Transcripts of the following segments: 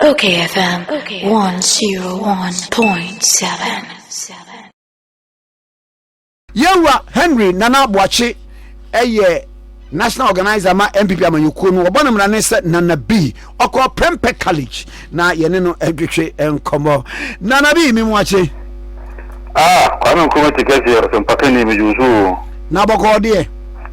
Okay FM 101.7 Yɛwura Henry Nana Boakye yɛ national organizer ma NPP amanyɔkuo no wɔbɔ no mmara ne sɛ Nana B ɔkɔ Prempeh College na yɛne no adwetwe nkɔmmɔ Nana B me mu akye Ah, Kwame Nkrumah ti kɛseɛ, ɔsɛmpakani, megye wo so o. Na bɔkɔɔ deɛ.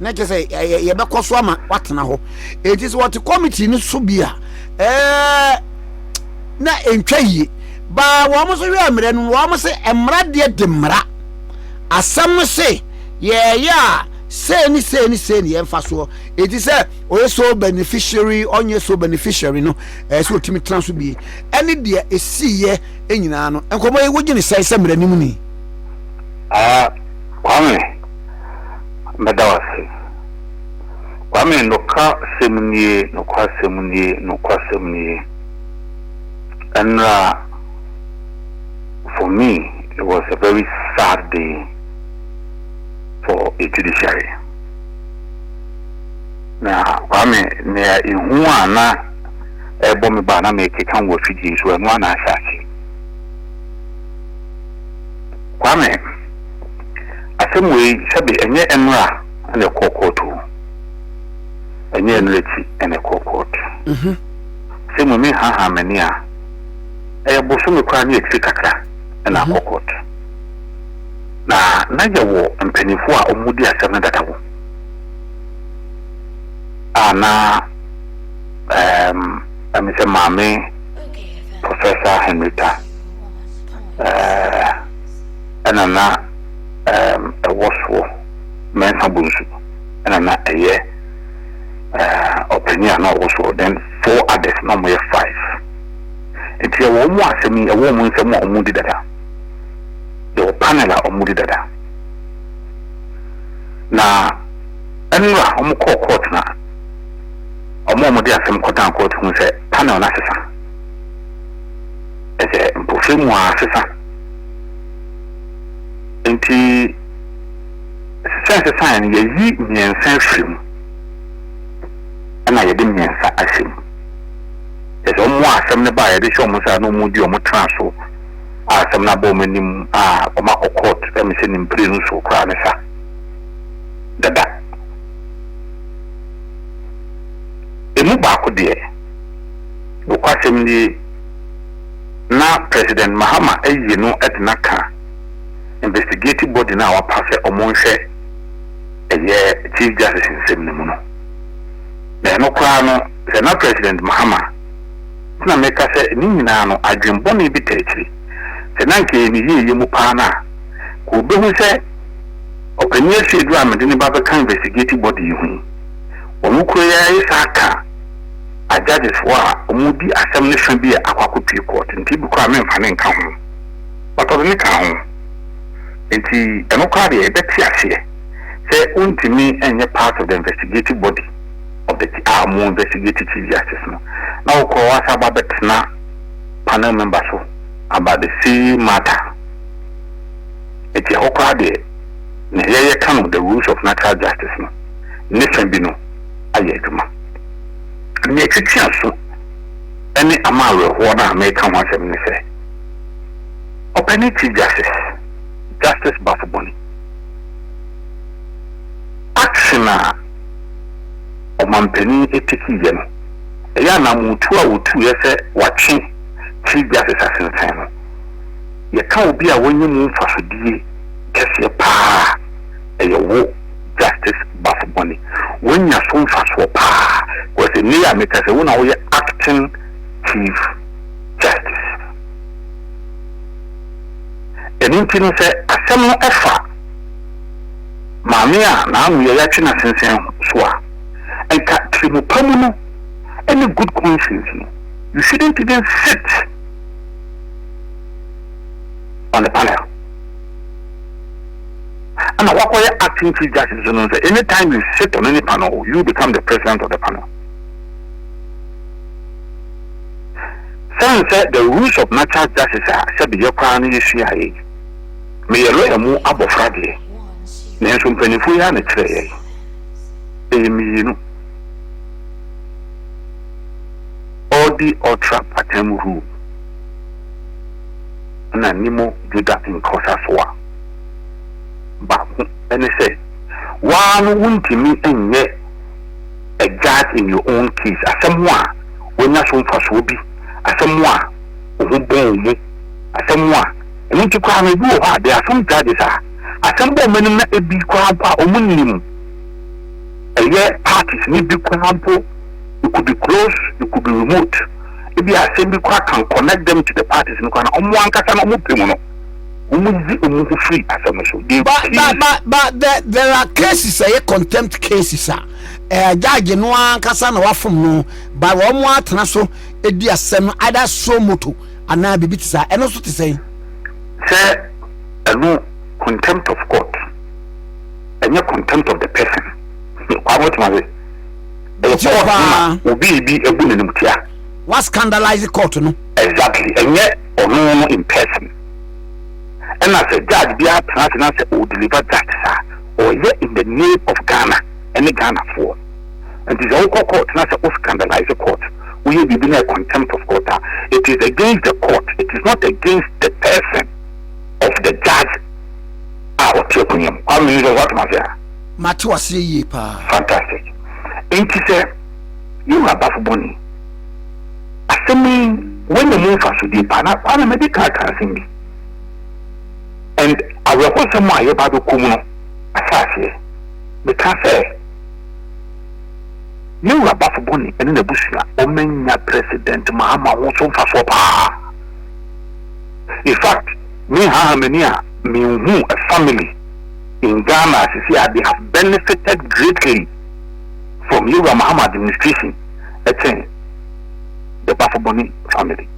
na kyerɛ sɛ yɛbɛkɔ so ama watena hɔ enti sɛ wɔte committee no so bi a ɛɛ na ɛntwa yie baa wɔn nso hwɛ mmerɛ no wɔn sɛ mmara deɛ de mmara asɛm no se yɛɛyɛ a sei ne sei ne sei ne yɛmfa soɔ ɛti sɛ ɔyɛ so beneficiary ɔnyɛ so beneficiary no ɛɛ sɛ ɔtumi tena so bie ɛne deɛ ɛsiiɛ nyinaa no nkɔmmɔ yi wogye ne sɛe sɛ mmerɛ no mu ni ah, Kwame mɛda wo ase. Kwame, noka sɛm nie, nokwa sɛm nie, nokwa sɛm nie. Ɛnra, for me, it was a very sad day for the judiciary. Na Kwame, nea ehu a na ɛbɔ me ba na mekeka wɔ afidie so, ɛno a na ahyɛ ase. Kwame, Asɛm wei, sɛbe ɛnyɛ ɛnora na ɛkɔɔ kɔɔt o, ɛnyɛ ɛnora akyi na ɛkɔɔ kɔɔt. Asɛm wei, menhaahaa m'ani a, ɛyɛ bosome koraa ne akyire kakra na akɔ kɔɔt. Na na yɛwɔ mpaninfoɔ a wɔdi asɛm no dada wom a na ɛɛm ɛme sɛ Maame Professor Henrietta ɛɛɛ. na na ɛwɔ soɔ, Mensah Bonsu na na ɛyɛ ɔpanin a na ɔwɔ soɔ, then four others, na wɔyɛ five. Nti yɛwɔ wɔn mu asɛm yi, yɛwɔ wɔn nsɛm a wɔdi dada, yɛwɔ panel a wɔdi dada. Na nnora wɔkɔɔ court na wɔn a wɔde asɛm kɔdan court hu sɛ panel no asesa, ɛsɛ mpofirim a asesa. Enti, ɛsɛ sɛ ɛsesae no, yɛyi mmiɛnsa firi mu na yɛde mmiɛnsa ahyɛ mu. Kyerɛ sɛ wɔn a asɛm no ba a yɛde hyɛ wɔn nsa a na wɔdi wɔn tra so a asɛm no aba wɔn anim a wɔakɔ court ɛm sɛ ne mprenu so koraa ne sa dada. Emu baako deɛ, nokwasɛm nie, na President Mahama ayi no de no aka investigate body no a wapa sɛ ɔmo nhwɛ ɛyɛ Chief Justice nsɛm no mu no. Na ɛno koraa no sɛ na President Mahama nti na meka sɛ ne nyinaa no adwen bɔne bi ta akyiri. Sɛ na anka ɛyɛ ne yieyɛ mu paa no a, nka obehu sɛ Ɔpanin Asiedu a mede no ba bɛka investigate body yi ho yi, wɔn kura yi ara yɛ saa ka. a judges foɔ a ɔmo di asɛm no fa bi yɛ akwako pie court nti ebi koraa menfa ne nka ho but ɔde ne kaa ho nti ɛno koraa deɛ yɛbɛte aseɛ sɛ wontumi nyɛ part of the investigative body of the a ɔmo investigate chief justice no na wo koraa wasa aba bɛtena panel member so about the same matter nti ɛhɔ koraa deɛ na yɛyɛ ka no the rules of natural justice no ne fa bi no ayɛ adwuma. Nea ɛtete aso ne ama awerɛhoɔ no a mereka ho asɛm ne sɛ, Ɔpɛni Chief Justice, Justice Bafo Boni, action a Ɔmanpanin tekiiɛ no, ɛyɛ anaamotuo a ɔtuiɛ sɛ watwe Chief Justice asensɛn no, yɛka obi a wanya mu mfasodie kɛseɛ paa a, ɛyɛ wo. Justice Bafo Boni, wanya so mfasoɔ paa because nnɛ yi a meka sɛ wo na woyɛ Acting Chief Justice. Ɛno nti no sɛ asɛm no fa maame a n'ano yɛ yatwe na sensɛn so a, nka tirimupa mu no ne good conscience no, you shouldn't even sit on the panel. ɛna wakɔyɛ acting chief justice nso no nsɛ any time you sit on any panel you become the president of the panel sɛn sɛ the rules of natural justice a sɛbi yɛ koraa no yɛsua yɛ meyɛ lɔya mu abɔfra deɛ nanso mpanimfoɔ yi a na kyerɛ yɛ ɛyɛ mmienu ɔdi ɔtra patam rule na nimo juda nkɔsa so a Baako ne sɛ, wo ara no wuntumi nyɛ a judge in your own case. Asɛm a woanya so mfasoɔ bi, asɛm a wo ho bɔɔ wo mu, asɛm a ɛno nti koraa no ebi wɔ hɔ a there are some judges a asɛm bɔ wɔn anim na ebi koraa mpo a wɔnnim ɛyɛ parties no bi koraa mpo, it could be close, it could be remote, ebi a asɛm bi koraa can connect them to the parties no koraa na wɔn ankasa no wɔpɛ mu no. wɔdze wɔn ho firi asɛm no so. Ba ba ba ba the there are cases ɛyɛ contempt cases a ɛɛ judge no ankasa na wafom no ba wɔn atena so edi asɛm no either so moto anaa biribi te saa ɛno nso te sɛn. Sɛ ɛno contempt of court ɛnyɛ contempt of the person kwa mo tuma se. Ɛyɛ court ma obi ebi egu n'anim tia. Wa scandalize court no. Exactly ɛnyɛ. ɔno no in person ɛna sɛ judge biara tena ase na sɛ ɔ deliver justice a ɔyɛ in the name of Ghana ɛne Ghana foɔ nti sɛ wokɔ court na sɛ wo scandalize court woyɛ biribi na contempt of court a it is against the court it is not against the person of the judge a ɔte akonya mu kwame yi sɛ woatoma se a mate waseɛ yie paa fantastic nti sɛ yɛwura bafo bɔne Asɛm yi wanya mu mfasodeɛ paa na Kwame mɛde ka aka asɛm bi and awerɛhosɛm a yɛba abɛkɔ mu no ahyɛ aseɛ. Meka sɛ yɛn wura Bafo Boni ɛne n'abusua wɔn anya President Mahama ho so mfasoɔ paa. In fact me haaha m'ani a me nhu a family in Ghana sisi a they have benefited greatly from yɛn wura Mahama administration. kyɛn the Bafoboni family.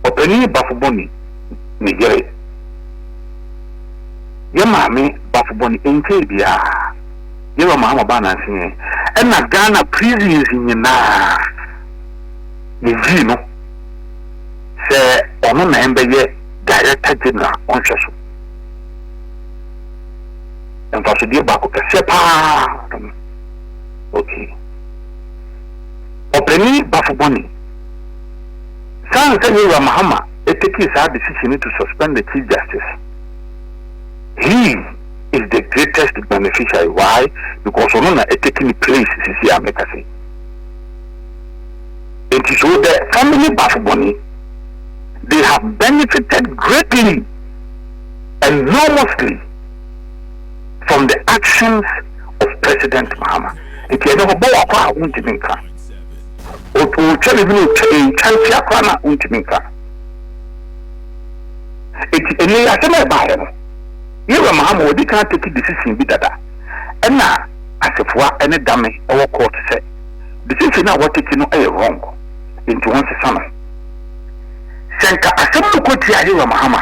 Ɔpanin Bafoboni ne yere, yɛn maame Bafoboni ɛnkyɛɛ biara yɛn wura Mahama baa nanseɛ ɛna Ghana prisons nyinaa yɛyii no sɛ ɔno na ɛmbɛyɛ Director General ɔnhwɛ so. Mfasodeɛ baako kɛseɛ paa Okay. Ɔpanin Bafo Boni, San sɛ Yɛwura Mahama takii saa decision yi to suspend the Chief Justice, he is the greatest beneficiary, why? Because ɔno na ɛtake ne place sisi a meka se. Nti so the family Bafo Boni, they have benefited greatly, enormously. from the actions of President Mahama. Nti ɛne hɔ bɔ wakɔ a wontumi nka. Ɔtwa biribi na ɔtwa ɛntwa nkyia koraa na wontumi nka. Nti ɛnɛ asɛm a ɛbaeɛ no, yɛwura Mahama wɔde kan take decision bi dada ɛna asefoa ɛne dame ɛwɔ court sɛ decision a wɔtake no ɛyɛ wrong nti wɔnsesa no. Sɛ nka asɛm no kɔtia yɛwura Mahama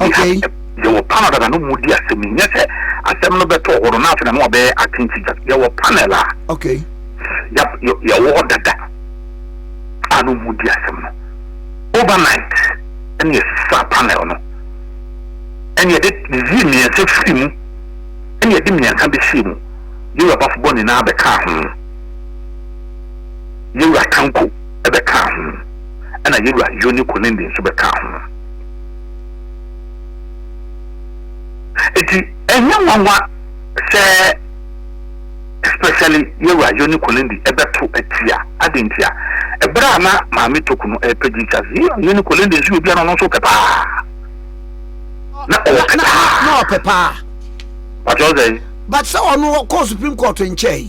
Okay. Yɛ- Yɛwɔ panel dada no mu di asɛm yi. Nyɛ sɛ asɛm no bɛtɔ hɔ no na afei na no abɛyɛ acting teacher. Yɛwɔ panel a Okay. yɛ- yɛ- yɛwɔ hɔ dada a no mu di asɛm no. Overnight ɛne yɛsesa panel no. Ɛne yɛde yiyie mmiɛnsa firi mu. Ɛne yɛde mmiɛnsa bɛhyɛ mu. Yɛwura Bafobɔ nyinaa bɛkaa ho. Yɛwura Tanko bɛkaa ho, ɛnna yɛn wura Yonne-Konende nso bɛkaa ho. Enti ɛnyɛ nwanwa sɛ especially yɛn wura Yonne-Konende ɛbɛto atia. Adɛn ntia? Ɛberɛ a na Maame Toku no ɛrepɛ Jesus, yɛn wura Yonne-Konende nso yɛ obi a na ɔno nso pɛ paa. Na ɔpɛ paa. Na ɔpɛ paa. But sɛ ɔno kɔɔ Supreme Court nkyɛe.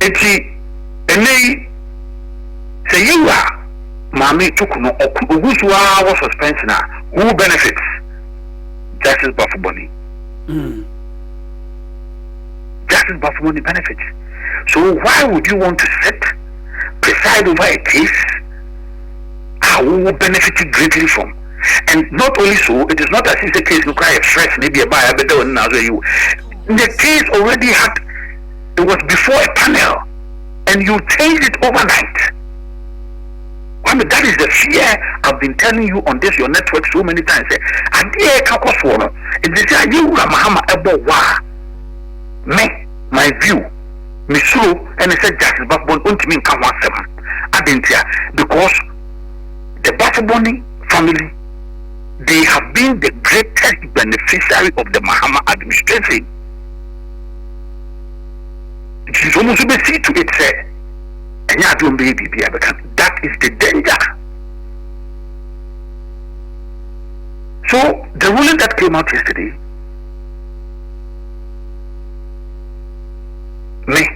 Enti, ɛnnɛyi, sɛ Yewa maame to kunu ɔko, ogu so ara wɔ suspension a, who benefits? Justice Bafuboni. Justice Bafuboni benefits. So why would you want to sit, preside over a case a wo wo benefit greatly from? And not only so, it is not as if the case no cry fresh, maybe a buyer, but the one now, so you, the case already had it was before a panel and you changed it overnight kwame that is the fear I've been telling you on this your network so many times sɛ adeɛ a ɛka kɔ soɔ no ɛdi sɛ ayɛ wura mahama ɛbɔ hɔ a me my view me suro ɛne sɛ justice bafobɔ no ɔntumi nka ho asɛm adeɛ ntia because the bafobɔni family they have been the greatest beneficiary of the mahama administration Gyidi sɛ ɔmo nso bɛ see to it sɛ ɛnyɛ adeɛ a ɔmo bɛyɛ biribi a ɛbɛka no. That is the danger. So the ruling that came out yesterday, me,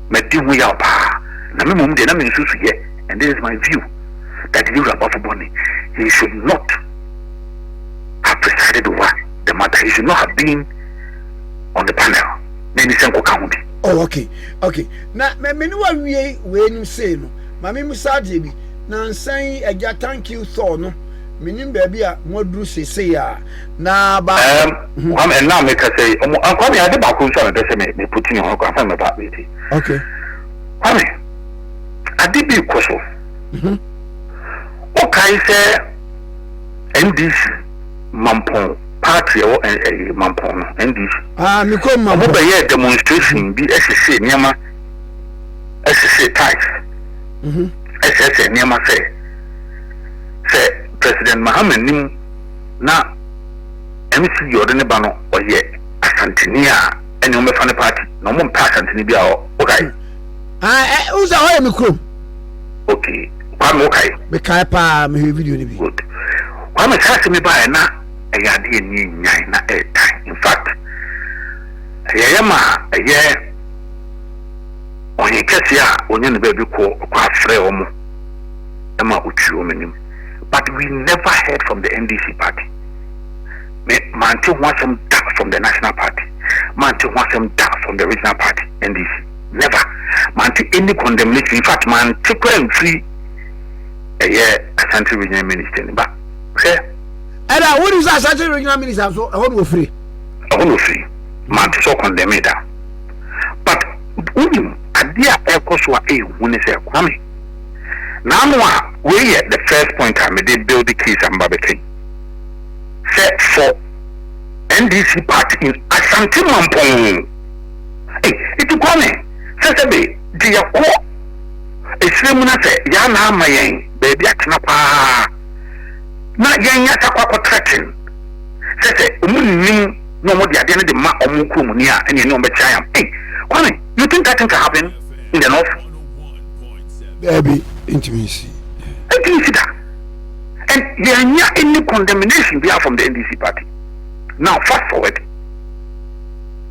madi ho yaw paa, na me mmom deɛ na me nsusu yɛ, and this is my view, that the Yura Bafoboni, he should not have presided over the matter. He should not have been on the panel na ɛne sɛ nkɔka ho bi. Oh, okay, okay. Na me ne wawie wei nim sei no, ma me musa adeɛ bi. Na nsa yi agya thank you Thor no, menim baabi a mo aduru seesei a. Na ba. Um, mm-hmm. Kwame, and now me can say, um, uh, Kwame, I did back on some person me me putting on Kwame, I'm about me. Okay. Kwame, I did be koso. Mm-hmm. Okay, sir. NDC. Mampong party a ɛwɔ ɛɛ Mampong no, NDC. Ah, me kɔ Mampong. Ɔmo bɛyɛɛ demonstration bi ɛsesee nneɛma, ɛsesee ties, mhm. ɛsɛsɛ nneɛma sɛ sɛ President Mahama nim na MC yɛ ɔde ne ba no ɔyɛ Asanteni a ɛne ɔmo bɛfa ne party na ɔmo mpɛ Asanteni bi a ɔkae. Ah, ɛ, eh, wusa hɔ yɛ me kurom. Okay. Kwame wokae? Mekae paa, mehwɛ video no bi. Good. Kwame saa asɛm yi baeɛ na ɛyɛ adeɛ a ɛni nnyan na ɛretan. In fact, ɛyɛ yɛ ma ɛyɛ ɔhen kɛseɛ a ɔnya ne baabi kɔ ɔkɔ afrɛ wɔn ɛma ɔtwi wɔn anim. But we never heard from the NDC party. Me mante ho asɛm da from the national party. Mante ho asɛm da from the regional party NDC. never mante any condemnation infact mante koraa mfiri ɛyɛ Asante regional minister ni ba hwɛ ɛna wo ni sɛ Asante regional minister nso ɛhɔ na ofiri ɛhɔ na ofiri mante sɛ condemn da but wonim adeɛ a ɛkɔ so a ɛyɛ hu ne sɛ kwame naano a wei yɛ the first point a mede build the case a mba bɛka yi sɛ for NDC party in Asante Mampong Ei, iti Kwame, sɛ sɛ be gye yɛ kɔ esire mu na sɛ yaa na ama yɛn baabi atena paa na yɛn nya sɛ kɔ akɔ trɛten sɛ sɛ ɔmo nnim na ɔmo de adeɛ no de ma ɔmo kuro mu ni a ɛne ɛne ɔmo bɛkyɛ ayam. Ei, Kwame, you think that thing can happen in the north? Daabi, entumi nsi. Entumi nsi da. And yɛn nya any condemnation biara from the NDC party. Now fast forward.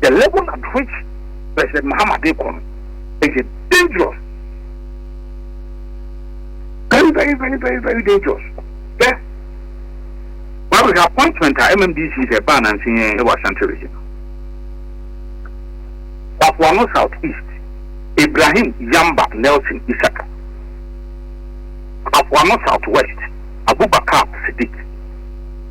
the level at which President Mahama de kɔ no ɛyɛ dangerous very very very very very dangerous hwɛ wabɛhwɛ appointment a MMDC sɛ ɛbaa nanse yɛn ɛwɔ Ashanti region Bafoano South East Ibrahim Yamba Nelson Isaka Bafoano South West Abubakar Sidik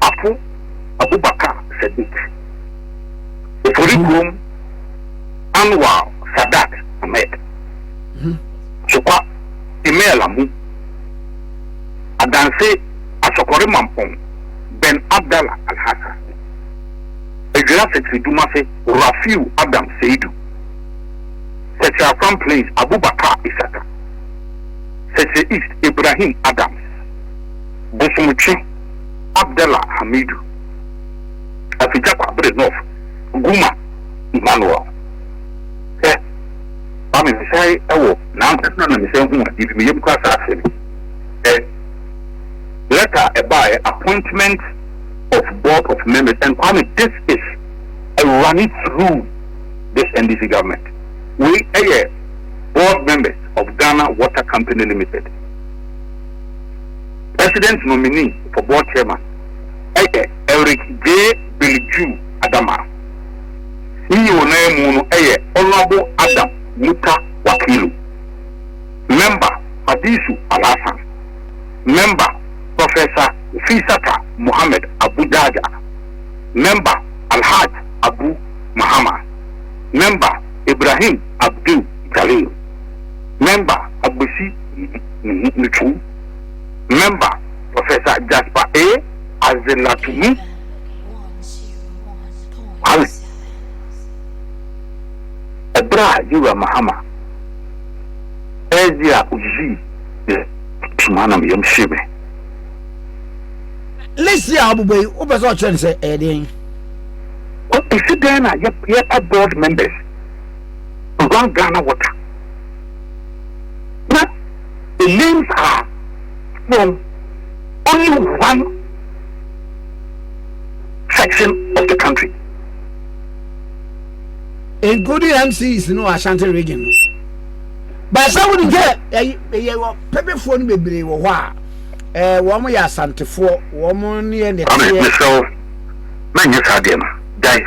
Apo Abubakar Sadiq, Ofori kurom Anwar Sadat Ahmed, Sokwa Emel Amu, Adanse Asɔkɔre Mampong Ben Abdallah Alhassan, Adwira Setri Dumase Rafiu Adam Seidu, Setri Afram Plains Abubakar Isaka, Setri East Ibrahim Adams. Bosomtwe Abdella Hamidu, Afigya Kwabre North, Guma Emmanuel, sɛ, Kwame Mesae wɔ n'ankasa na Mesae hu adeɛ bi, me yam kura saa asɛm yi, sɛ lɛta a ɛbaeɛ, appointment of board of members, and Kwame, this is a running through this NDC government, wei yɛ board members of Ghana Water Company Limited. President nominee for board chairman yɛ Eric J. Billju Adama. CEO no ara mu no yɛ Honourable Adam Muta Wakilu, Member Hadisu Alhassan, Member Professor Fisata Mohammed Abu Jaja, Member Alhaj Abu Mahama, Member Ibrahim Abdul Jalil, Member Agbesi. ne ho no twam mɛmba Professor Jasper A. Azelatumu Kwame. Ɔbra a Yewura Mahama ɛɛdzi a odzii yɛ tum a na me yam hyee me. List yi a ɔbobɔ yi, wopɛ sɛ ɔkyerɛ no sɛ ɛyɛ dɛn? Ɛsi dɛn na yɛpa board members Run Ghana Water? na the names are from only one section of the country. Including MCs no Ashanti region no. Baasa wo ni sɛ ɛyɛ wɔ pɛpɛfoɔ no bebree wɔ hɔ a ɛɛ wɔn yɛ asantefoɔ wɔn ne yɛ nɛteɛ. Maame mesrɛ wo na nyɛ saa deɛ no gyae.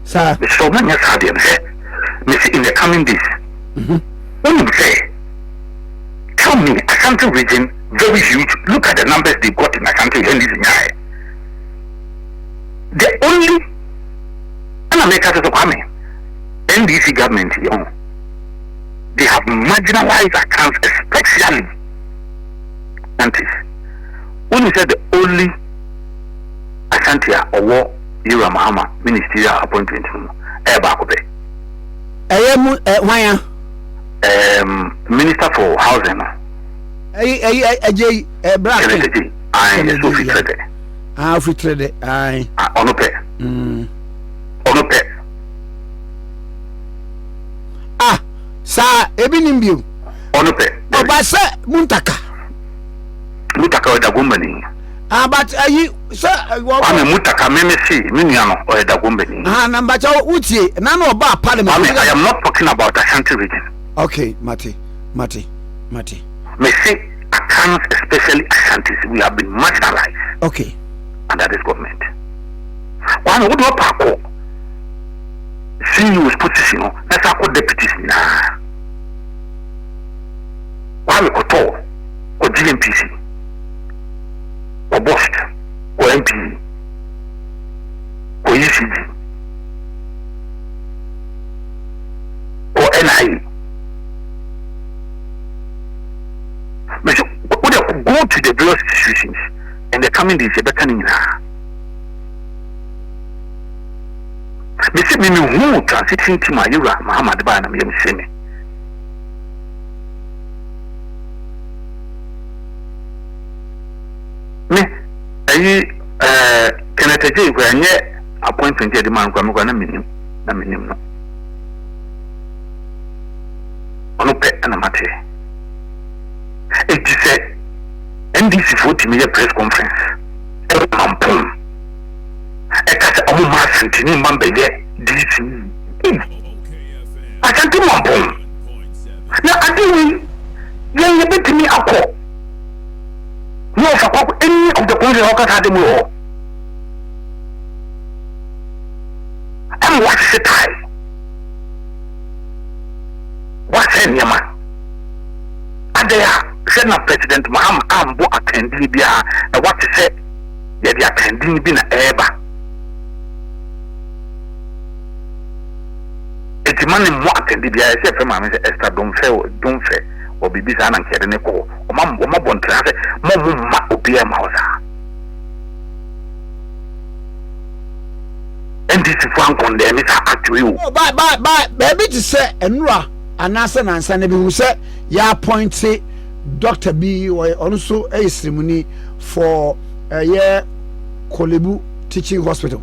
Saa. Mesrɛ wo ma nyɛ saa deɛ no hɛ, mese in the coming days. Wonim sɛ, tell me, Ashanti region very huge, look at the numbers they got in Ashanti Henry's nyaɛ. The only, ɛna meka sɛ sɛ Kwame, NDC government yɛ ho, they have marginalized accounts especially Ashantis. Wonim sɛ the only Ashanti a ɔwɔ Yura Mahama ministerial appointment no mu ɛyɛ baako pɛ. Ɛyɛ mu ɛ hwan a? Um, minister for housing no. Ɛyi ɛyi ɛgye yi ɛ bra kɛn. Kɛlɛtɛgye ayi ɛsɛ ofi tirɛ dɛ. Ah ofi tirɛ dɛ ayi. Ah ɔno pɛ. Mm. Ɔno pɛ. Ah saa ebi nim bio. Ɔno pɛ. Ɔba sɛ muntaka. Muntaka ɔda gomani. Ah, but ayi eh, sɛ eh, wɔ. Kwame Mutaka me me see me nua no ɔyɛ Dagombani. Ah, na mbakyɛ wotie na na ɔba parliament. Kwame, I am not talking about Ashanti region. Okay, mate, mate, mate. Me se Akans, especially Ashantis, we have been marginalized. Okay. Under this government. Kwame, wo de ɔpa akɔ CEO's position no, na sa akɔ deputies nyinaa. Kwame kɔtɔ, kɔ GNPC. wɔbɔ hwɛ wɔ MP wɔ ECD wɔ NIA mese wode go to the various institutions in the coming days yɛbɛka ne nyinaa mese me mehu transition team a yɛwura Muhammad baa na meyɛ mese me Me ayi eh, Kenneth Agyei kura nyɛ appointment yɛ de ma no kura me kura na menim na menim no. Ɔno pɛ na mate. Eti sɛ NDC foɔ tumi yɛ press conference ɛwɔ mampɔn ɛka sɛ ɔmo ma asantini mma mbɛyɛ DC. Asante mampɔn. Na ade wei, yɛn yɛbɛtumi akɔ yɛn ɔfa kɔ ɛni of the conference hɔ kasa ade mu wɔ hɔ ɛma wɔahyehyɛ tae wɔasɛ nneɛma adɛn a sɛ na president mahama ambo akandini biara na wɔate sɛ yɛde akandini bi na ɛreba Enti ma ne mmɔ atɛnde biara. Ɛsɛ yɛfrɛ maame sɛ Esther Domfɛ o, Domfɛ o, biribi saa na nka yɛde no kɔ hɔ. Wɔma, wɔma bɔ ntraa sɛ, Mma ɔmo mma obiara mma hɔ saa. NDC foɔ ankɔndɛɛ me saa atwere o. Oh, ba, ba, ba, baabi te sɛ Anura anaasɛ nansa na bihu sɛ yɛapɔnte dɔkta bi, ɔno nso yɛ sremuni for ɛyɛ Kolebu Teaching Hospital.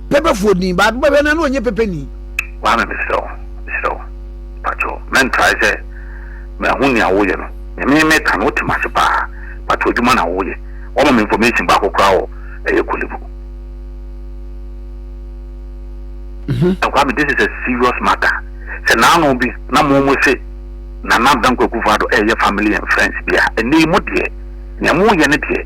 pɛpɛfoɔ din baako bɛhwɛ no na ɔnyɛ pɛpɛ ni. Kwame mesrɛ wo mesrɛ wo pakyɛw mɛntrae sɛ mahu nea woyɛ no nea me meka no wote m'ase paa pakyɛw adwuma na woyɛ wɔma me information baako koraa wɔ ɛyɛ kolibu mhm. Kwame this is a serious matter sɛ naano bi na mo mo se nana danko akufo ado ɛyɛ family and friends bi a ɛnɛ yi mo deɛ nea moyɛ no deɛ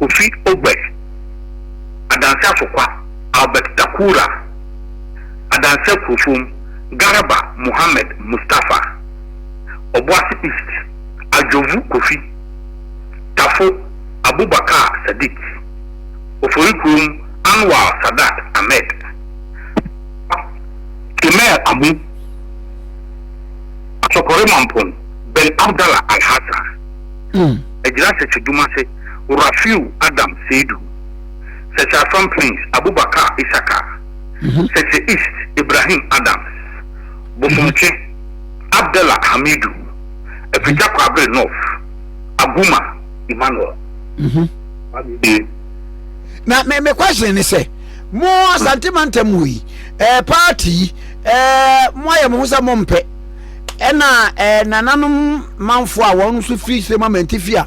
Kofi Ogbeh, Adanse Asokwa, Albert Takura, Adanse Akuofom, Garba Mohammed Mustapha, Obuasi East, Adjorvu Kofi, Tafo, Abubakar Sadiq, Oforikurom, Anwar Sadat Ahmed, Akwa, Kemel Amu, Asokore Mampong, Ben Abdallah Alhassan, Agyira Sese Dumase. Rafiu Adam Seidu, Sɛkyɛ Afram Prince Abubakar Isaka, Sɛkyɛ East Ibrahim Adams, Bosomtwe Abdallah Hamidu, Afigya Kwabre North Aguma Emmanuel. Wabie. Na me me question ne sɛ mo Asante mantam mu yi ɛɛ eh, party yi ɛɛ eh, mo ayɛ mo ho sɛ mo mpɛ ɛna ɛɛ eh, nananom manfo a wɔn nso firi sɛ mo amantifi a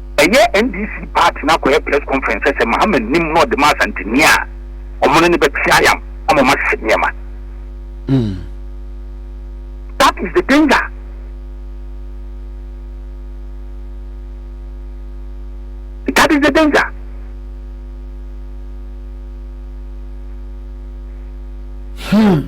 Ɛyɛ NDC party no akɔyɛ press conference sɛ sɛ Mahama nnim na ɔde ma Asanteni a, wɔn ne no bɛte ayam ama wɔn ahyehyɛ nneɛma. That is the danger. That is the danger. Hmm.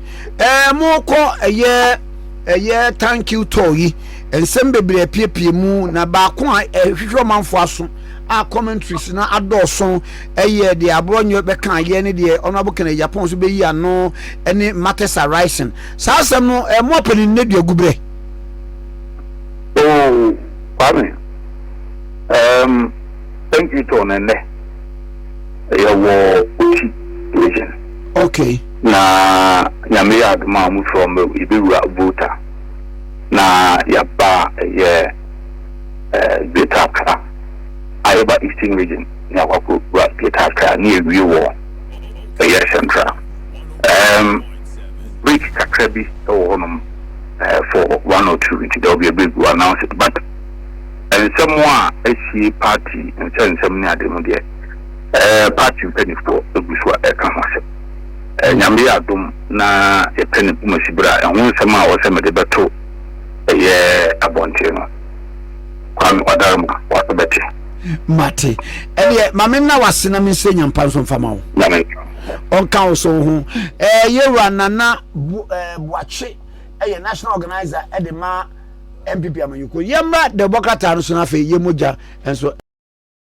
Ɛɛ mokɔ ɛyɛ ɛyɛ thank you tour yi nsɛm bebree apiepie mu na baako a ɛhwehwɛ ɔmanfo aso a commentaries na adɔɔso ɛyɛ deɛ aborɔ nyɛ bɛka ayɛ ne deɛ honorable kennedy japan so bɛyi ano ɛne matters arising saa asɛm no ɛɛ mo apɛ ne nne duagu berɛ. Oh, Kwame, um, thank you tour no ɛnɛ ɛyɛ wɔ Oti region. Okay. Na Nyame yɛ adom a ɔmo frɛ ɔmo yɛbɛwura Volta na yɛaba ɛyɛ Greater Accra a yɛba Eastern Region na yɛakɔ akɔ wura Greater Accra na yɛwie wɔ ɛyɛ Central ɛɛm break kakra bi wɔ hɔ nom for one or two nti there will be a break we will announce it but nsɛm a asie party nsɛnsɛm ne ade no deɛ ɛɛ party mpanifoɔ egu so a ɛka ho asɛm. Nyame yɛ adom na yɛpɛ ne kumasiberɛ a, ɛho nsɛm a ɔsɛ mede bɛto ɛyɛ abɔnten no, Kwame Ɔdarema, w'ase bɛte. Mate. Ɛdeɛ, ma me nna w'ase na mensrɛ Nyampa nso mfa ma wo. Nyame nka. Ɔnka wo so ho. Ɛɛ, yɛwura Nana bu, ɛɛ, Boakye ɛyɛ national organizer ɛde ma NPP amanyɔkuo. Yɛmmra dɛbɔ krataa no so na afei yɛn mogya nso.